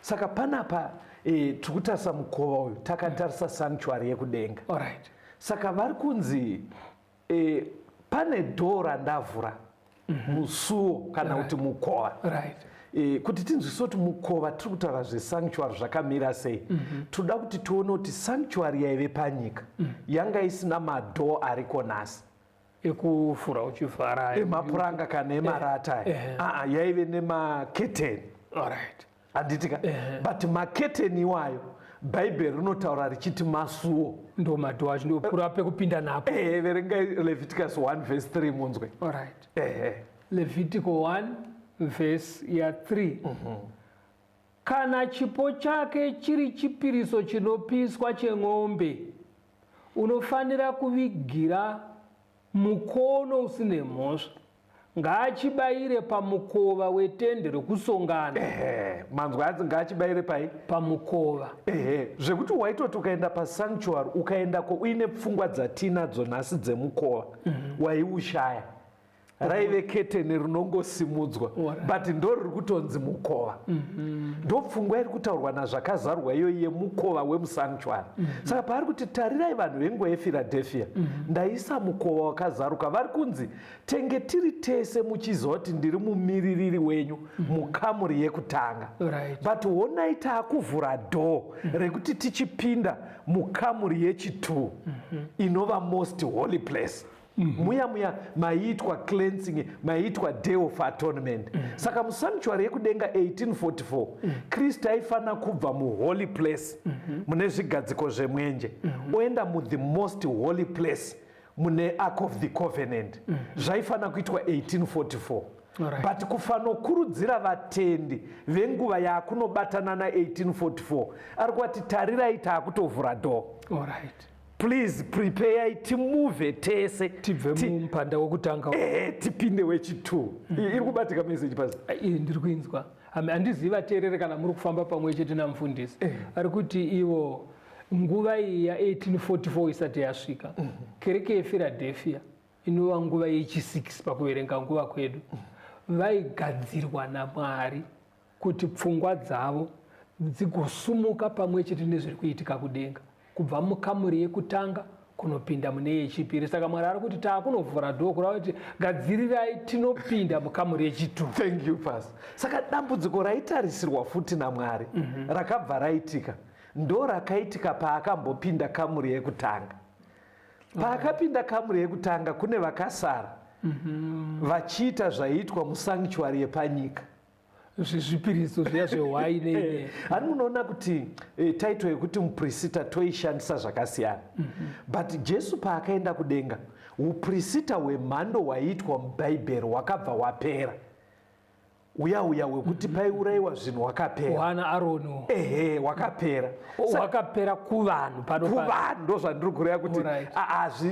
saka panapa e, tiri kutarisa mukova uyu takatarisa mm. sanctuary yekudenga right. saka vari kunzi e, pane dhoo randavhura mm -hmm. musuo kana kuti right. mukova right. E, kuti tinzwise kuti mukova tiri kutaura zvesanctuary zvakamira sei mm -hmm. tinoda kuti tione kuti sanctuary yaive panyika mm -hmm. yanga isina madhoo ariko nhasi ekufura uchivhara emapuranga kana eh, emarata eh, eh. Ah, ah, yaive nemaketeni right. handitika eh. but maketeni iwayo bhaibheri rinotaura richiti masuo ndo madho acho ndopura pekupinda napo eh, verengai leviticus 1 vhesi 3 munzwe right. eh. levitico 1 vhesi ya 3 mm -hmm. kana chipo chake chiri chipiriso chinopiswa chen'ombe Unofanira kuvigira mukono usine mhosva. Ngaachibaire pamukova wetende rokusongana. Ehe, manzwa anzi ngaachibaire pai? Pamukova. Ehe, zvekuti waitoti ukaenda pasanctuary ukaendako uine pfungwa dzatiinadzo nhasi dzemukova, mm -hmm. waiushaya. raive keteni rinongosimudzwa but ndo riri kutonzi mukova mm-hmm. ndo pfungwa iri kutaurwa nazvakazarwa iyoyi yemukova wemusanctuary mm-hmm. saka paari kuti tarirai vanhu venguva yephiladelphia mm-hmm. ndaisa mukova wakazaruka vari kunzi tenge tiri tese muchiziva kuti ndiri mumiririri wenyu mukamuri yekutanga but honai taakuvhura dhoo rekuti tichipinda mukamuri yechitwo inova most holy place Mm -hmm. muya muya maiitwa cleansing maiitwa day of atonement mm -hmm. saka musanctuary yekudenga 1844 mm -hmm. kristu aifanira kubva muholy place mm -hmm. mune zvigadziko zvemwenje mm -hmm. oenda muthe most holy place mune ark of the covenant mm -hmm. zvaifanira kuitwa 1844 Right. but kufanokurudzira vatendi venguva yaakunobatana na 1844 ari kuvati tarirai taakutovhura dho right. please prepare it move tese tibve mumpanda wokutanga eh tipinde wechitu mhm. iri kubatika message pazi eh, eh, ndiri kuinzwa handizivi vateerere kana muri kufamba pamwe chete namufundisi eh. ari kuti ivo nguva iyi ya 1844 isati yasvika mhm. kereke yefiradelfia inova nguva yechi6 pakuverenga nguva kwedu mhm. vaigadzirwa namwari kuti pfungwa dzavo dzigosumuka pamwe chete nezviri kuitika kudenga kubva mukamuri yekutanga kunopinda mune yechipiri saka mwari ari kuti taakunovhura dhoo kurava kuti gadzirirai tinopinda mukamuri yechitu thank you pas saka dambudziko raitarisirwa futi namwari mm -hmm. rakabva raitika ndo rakaitika paakambopinda kamuri yekutanga paakapinda kamuri yekutanga kune vakasara mm -hmm. vachiita zvaiitwa musanctuary yepanyika zvezvipiriso zviya zvehwai nei eh, hani munoona kuti eh, title yekuti muprisita toishandisa zvakasiyana mhm. but jesu paakaenda kudenga uprisita hwemhando hwaiitwa mubhaibheri hwakabva hwapera uya uya wekuti mhm. paiurayiwa zvinhu wakaperavana aroni ehe wakapera wakapera kuvanhu pano kuvanhu ndozvandiri kureva kuti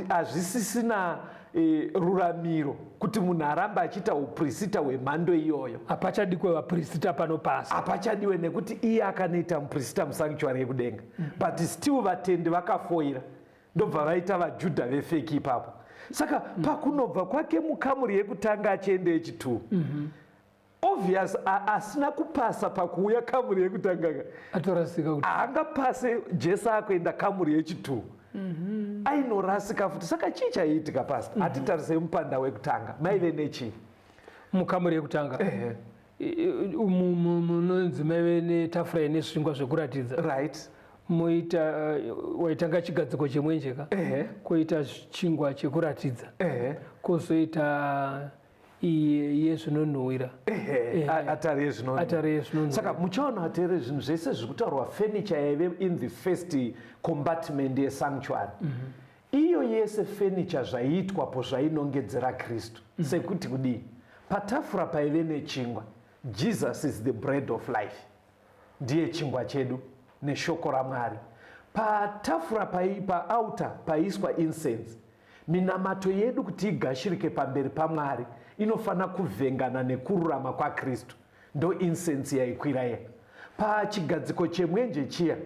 hazvisisina e, ruramiro kuti munhu arambe achiita uprisita hwemhando iyoyo hapachadikwe vaprisita pano pasi hapachadiwe nekuti iye akanoita muprisita musanctuary yekudenga mm -hmm. but still vatendi vakafoira ndobva vaita vajudha vefeki ipapo saka mm -hmm. pakunobva kwake mukamuri yekutanga achienda yechitwo mm -hmm. Obvious asina kupasa pakuuya kamuri yekutanga ka. Atorasika kuti. Haangapase Jesu akuenda kamuri yechitu. Mhm. Ainorasika futi saka chii chaiitika pastor? Mhm. Atitarisei mupanda wekutanga. Maive nechii? Mukamuri yekutanga. Ehe munonzi maive netafura ine zvingwa zvekuratidza right moita eh, waitanga chigadziko chemwenje ka koita chingwa chekuratidza kozoita yezvinonhuhwira atari yezvinonhuhwira saka muchaona vateereri zvinhu zvese zviri kutaurwa furniture yaive in the first compartment yesanctuary mm -hmm iyo yese fenicha zvaiitwapo zvainongedzera kristu mm. sekuti kudii patafura paive nechingwa jesus is the bread of life Ndiye chingwa chedu neshoko raMwari. Patafura pai, paauta paiiswa incense. Minamato yedu kuti igashirike pamberi paMwari inofanira kuvhengana nekururama kwaKristu. Ndoincense yaikwira iya pachigadziko chemwenje chiya.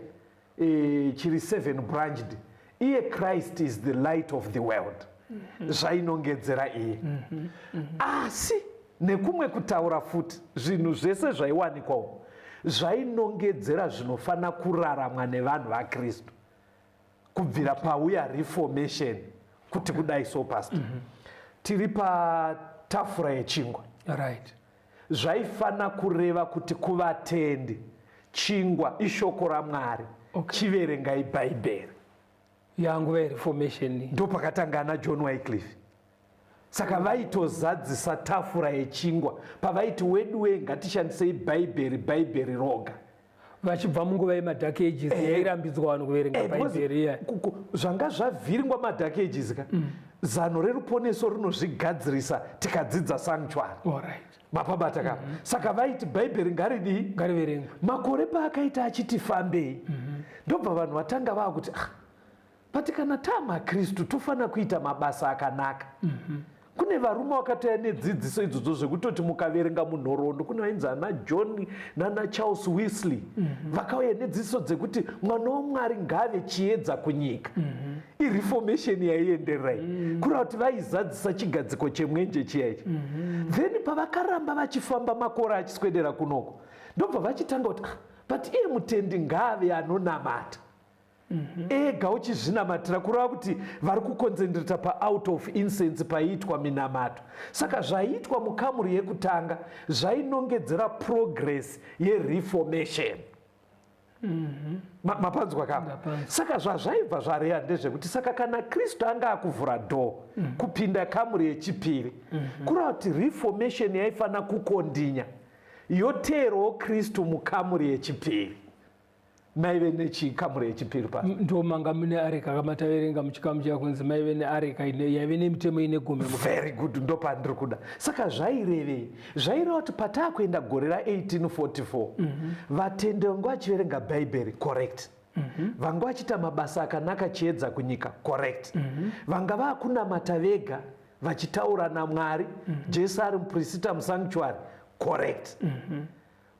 eh, chiri seven branched iye christ is the light of the world mm -hmm. zvainongedzera iye mm -hmm. Mm -hmm. asi nekumwe kutaura futi zvinhu zvese zvaiwanikwawo zvainongedzera zvinofanira kuraramwa nevanhu vakristu kubvira pauya reformation kuti kudai so past mm -hmm. tiri patafura yechingwa right Zvaifana kureva kuti kuvatendi chingwa ishoko raMwari okay. Chiverengai Bhaibheri yanguva yereformation ndopakatanga ana John Wycliffe saka vaitozadzisa tafura yechingwa pavaiti weduwe ngatishandisei bhaibheri bhaibheri roga vachibva munguva yemadhaki ages eh, yairambidzwa vanhu kuverenga eh, bhaibheri iya zvanga zvavhiringwa madhaki ages ka mm. zano reruponeso rinozvigadzirisa tikadzidza sanctuary mapabata ka mm-hmm. saka vaiti bhaibheri ngaridii ngariverengwa makore paakaita achiti fambei mm-hmm. ndobva vanhu vatanga vaakuti ah, but kana taa makristu tofanira kuita mabasa akanaka mm -hmm. kune varume vakatouya nedzidziso idzodzo zvekutoti mukaverenga munhoroondo kune vainzi ana john nana charles wisley mm -hmm. vakauya nedzidziso dzekuti mwana wamwari ngaave chiedza kunyika mm -hmm. ireformation yaienderai mm -hmm. kureva kuti vaizadzisa chigadziko chemwenje chiya ichi mm -hmm. then pavakaramba vachifamba makore achiswedera kunoko ndobva vachitanga kuti ah, but iye mutendi ngaave anonamata Mhm. ega uchizvinamatira kureva kuti vari kukonzendireta paout of incense paiitwa minamato saka zvaiitwa mukamuri yekutanga zvainongedzera progress yereformation mhm. mapanzwa kama saka zvazvaibva zvareya ndezvekuti saka kana kristu anga akuvhura dho mhm. kupinda kamuri yechipiri kureva kuti reformation yaifanira kukondinya yoteerwawo kristu mukamuri yechipiri maive nechikamuri yechipiri pa ndomanga mune areka kama taverenga muchikamu chiya kunzi maive neareka yaive nemitemo ine gumi very good ndopandiri kuda saka zvairevei zvaireva kuti pataa kuenda gore ra1844 mhm. vatende vangu vachiverenga bhaibheri correct mhm. vanga vachiita mabasa akanaka chiedza kunyika correct mhm. vanga vakunamata vega vachitaura namwari jesu ari mupurisita musanctuary correct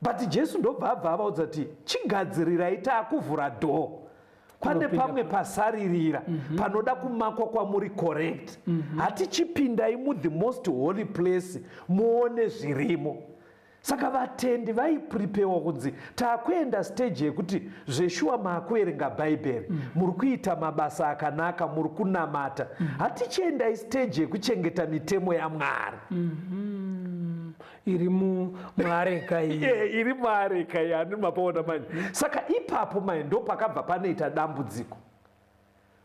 But Jesu ndobva abva avaudza kuti chigadzirirai taakuvhura door pane pamwe pasaririra mm -hmm. panoda kumakwa kwamuri correct mm -hmm. hatichipindai mu the most holy place muone zvirimo saka vatendi vaipripewa kunzi takuenda stage yekuti zveshuwa maakuverenga bhaibheri mm. muri kuita mabasa akanaka muri kunamata mm. hatichiendai stage yekuchengeta mitemo yamwari mm -hmm. iri muareka eh, iri muareka yani mapaona manje saka ipapo mai ndo pakabva panoita dambudziko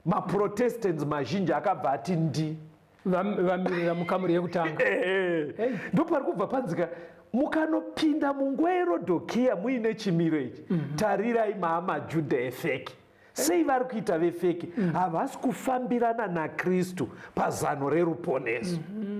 maprotestants mazhinji akabva ati ndi vamirira mukamuri yekutanga eh, eh. ndo pari kubva panzika mukanopinda munguva yerodokiya muine chimiro ichi mm -hmm. tarirai maamajudha efeki sei vari kuita vefeki mm. havasi mm -hmm. kufambirana nakristu pazano reruponeso mm -hmm.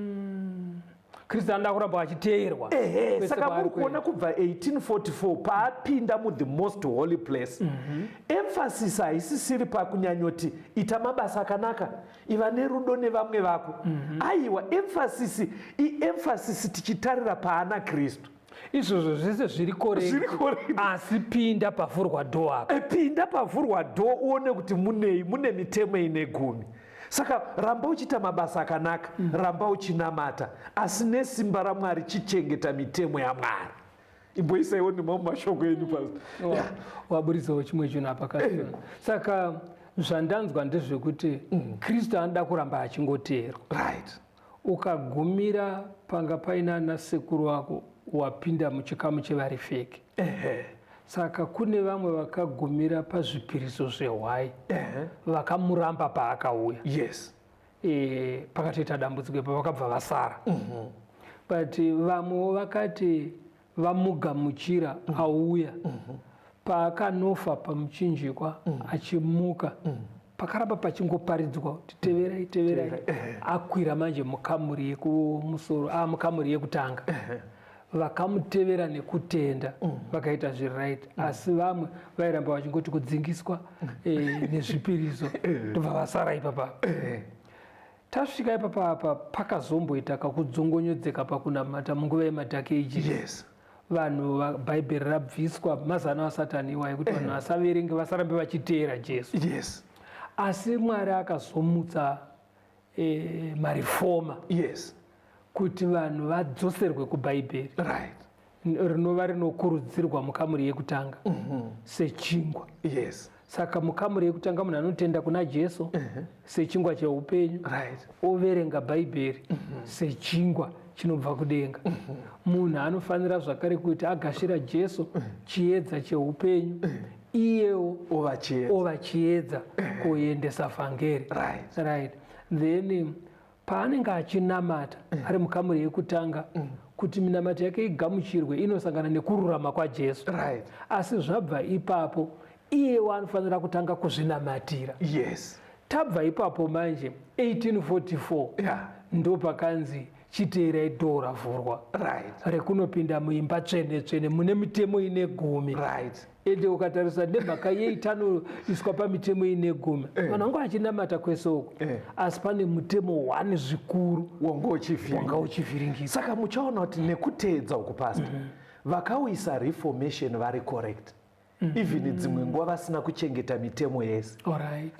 kristu anoda kuramba achiteerwa ehe saka muri kuona kubva 1844 paapinda muthe most holy place mm -hmm. emphasis haisisiri pakunyanyoti ita mabasa akanaka iva nerudo nevamwe vako mm -hmm. aiwa emphasis iemphasis tichitarira paana kristu izvozvo zvese zviri koreasi pinda pavhurwa dho apa eh, pinda pavhurwa dho uone kuti munei mune mitemo ine gumi saka ramba uchiita mabasa akanaka mm. ramba uchinamata asi nesimba ramwari chichengeta mitemo yamwari imboisaiwo nemamwe mashoko enyu pas oh, waburitsawo chimwe chinhu apa ka eh. saka zvandanzwa ndezvekuti mm. kristu anoda kuramba achingoteerwa right Ukagumira panga paina ana sekuru vako wapinda muchikamu chevari fake. Ehe. Saka kune vamwe vakagumira pazvipiriso zvehwai Ehe. vakamuramba paakauya. Yes. E, pakatoita dambudziko ipa vakabva vasara. Mhm. But vamwewo vakati vamugamuchira mm. auya mm -hmm. paakanofa pamuchinjikwa mm -hmm. achimuka mm -hmm pakaramba pachingoparidzwa kuti teverai teverai akwira manje mukamuri yekumusoro a ah, mukamuri yekutanga vakamutevera nekutenda mm. vakaita zviri right mm. asi vamwe vairamba vachingoti kudzingiswa eh, nezvipiriso ndobva vasara ipapa Tasvika ipapa apa pakazomboita kakudzongonyodzeka pakunamata munguva yemadhak ages. Yes. Vanhu bhaibheri rabviswa mazano asatani iwa yekuti vanhu eh. vasaverenge vasarambe vachiteera Jesu. Yes. Asi Mwari akazomutsa eh, marifoma. Yes. kuti vanhu vadzoserwe kubhaibheri right rinova rinokurudzirwa mukamuri yekutanga mm -hmm. sechingwa yes saka mukamuri yekutanga munhu anotenda kuna jesu mm -hmm. sechingwa cheupenyu right overenga bhaibheri mm -hmm. sechingwa chinobva kudenga mm -hmm. munhu anofanira zvakare kuti agashira jesu mm -hmm. chiedza cheupenyu mm -hmm iyewo ovachiedza kuendesa vhangeri right. right then Paanenge achinamata mm. ari mukamuri yekutanga mm. kuti minamato yake igamuchirwe inosangana nekururama kwaJesu. Right. Asi zvabva ipapo iyewo anofanira kutanga kuzvinamatira. Yes. Tabva ipapo manje 1844 yeah. ndopakanzi chiteerai dhoo ravhurwa right. rekunopinda muimba tsvene tsvene mune mitemo ine gumi right. ende ukatarisa nemhaka yei tanoiswa pamitemo ine gumi eh. vanhu vanga vachinamata kwese uko eh. asi pane mutemo one zvikuru wanga uchivhiringisa saka muchaona kuti nekuteedza uku pasta mm -hmm. vakauisa reformation vari correct mm -hmm. even dzimwe nguva vasina kuchengeta mitemo yese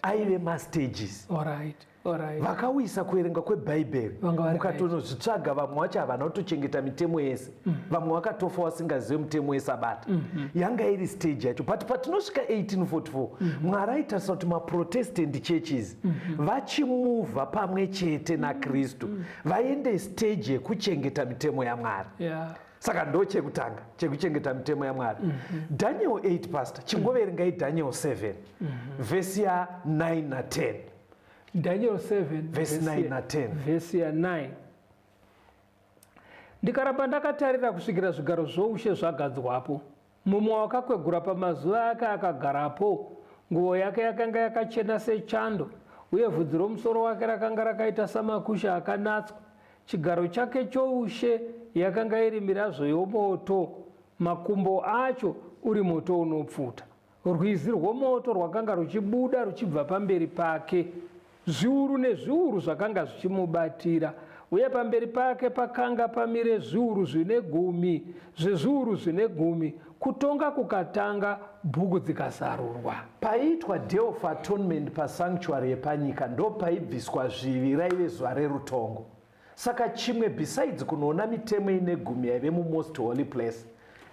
aive mastages All right. Alright. vakauyisa kuverenga kwebhaibheri Vanga vari mukatonozvitsvaga vamwe wacho havana kutochengeta mitemo yese vamwe vakatofa wasingazive mutemo wesabata yanga iri stage yacho but patinosvika 1844 mwari aitarisa kuti maprotestant churches vachimuvha pamwe chete nakristu vaende stage yekuchengeta mitemo yamwari Yeah. saka ndo chekutanga chekuchengeta mitemo yamwari daniel 8 pastor chingoverengai daniel 7 vhesi ya 9 na 10 Daniel 7 verse 9 na 10. Verse ya 9. Ndikaramba ndakatarira kusvikira zvigaro zvoushe zvagadzwapo. Mumwe wakakwegura pamazuva ake akagarapo, nguvo yake yakanga yakachena sechando, uye vhudzi romusoro wake rakanga rakaita samakusha akanatswa. Chigaro chake choushe yakanga iri mirazvo yomoto, makumbo acho uri moto unopfuta. Rwizi rwomoto rwakanga ruchibuda ruchibva pamberi pake, zviuru nezviuru zvakanga zvichimubatira, uye pamberi pake pakanga pamire zviuru zvine gumi zvezviuru zvine gumi, kutonga kukatanga, bhuku dzikazarurwa. Paiitwa Day of Atonement pasanctuary yepanyika ndopaibviswa zvivi, raive zuva rerutongo. Saka chimwe besides kunoona mitemo ine gumi yaive mumost holy place.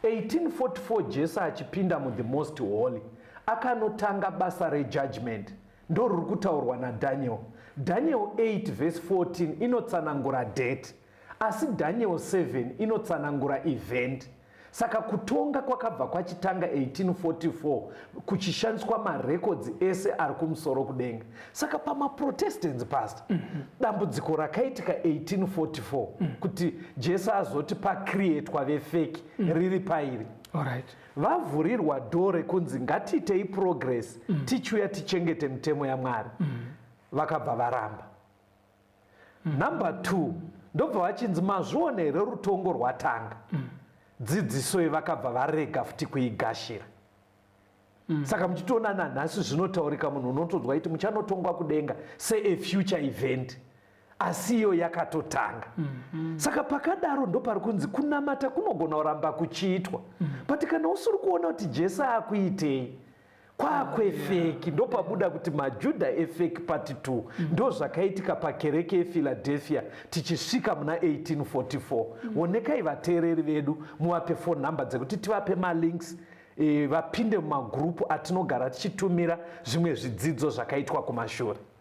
1844 Jesu achipinda mu the most holy akanotanga basa re judgement ndoruri kutaurwa na Daniel. Daniel 8 verse 14 inotsanangura date asi Daniel 7 inotsanangura event. Saka kutonga kwakabva kwachitanga 1844 kuchishandiswa marekodzi ese ari kumusoro kudenga. Saka pamaProtestants past mm -hmm. dambudziko rakaitika 1844 mm -hmm. kuti Jesu azoti pakrietwa vefeki mm -hmm. riri pairi Alright. vavhurirwa dho rekunzi ngatiitei progress mm -hmm. tichiuya tichengete mitemo yaMwari mm -hmm. vakabva varamba Number two, ndobva vachinzi mazviona here rutongo rwatanga mm. dzidzisoi vakabva varega futi kuigashira mm. saka muchitoona nanhasi zvinotaurika munhu unotonzwa iti muchanotongwa kudenga sea future event asi iyo yakatotanga mm -hmm. saka pakadaro ndopari kunzi kunamata kunogona kuramba kuchiitwa mm -hmm. but kana usiri kuona kuti jesu akuitei kwakwefeki ndopabuda kuti majudha efeki pati 2 mm. ndozvakaitika pakereke yephiladelphia tichisvika muna 1844 mm. wonekai vateereri vedu muvape fon number dzekuti tivape malinks e, vapinde mumagrupu atinogara tichitumira zvimwe zvidzidzo zvakaitwa kumashure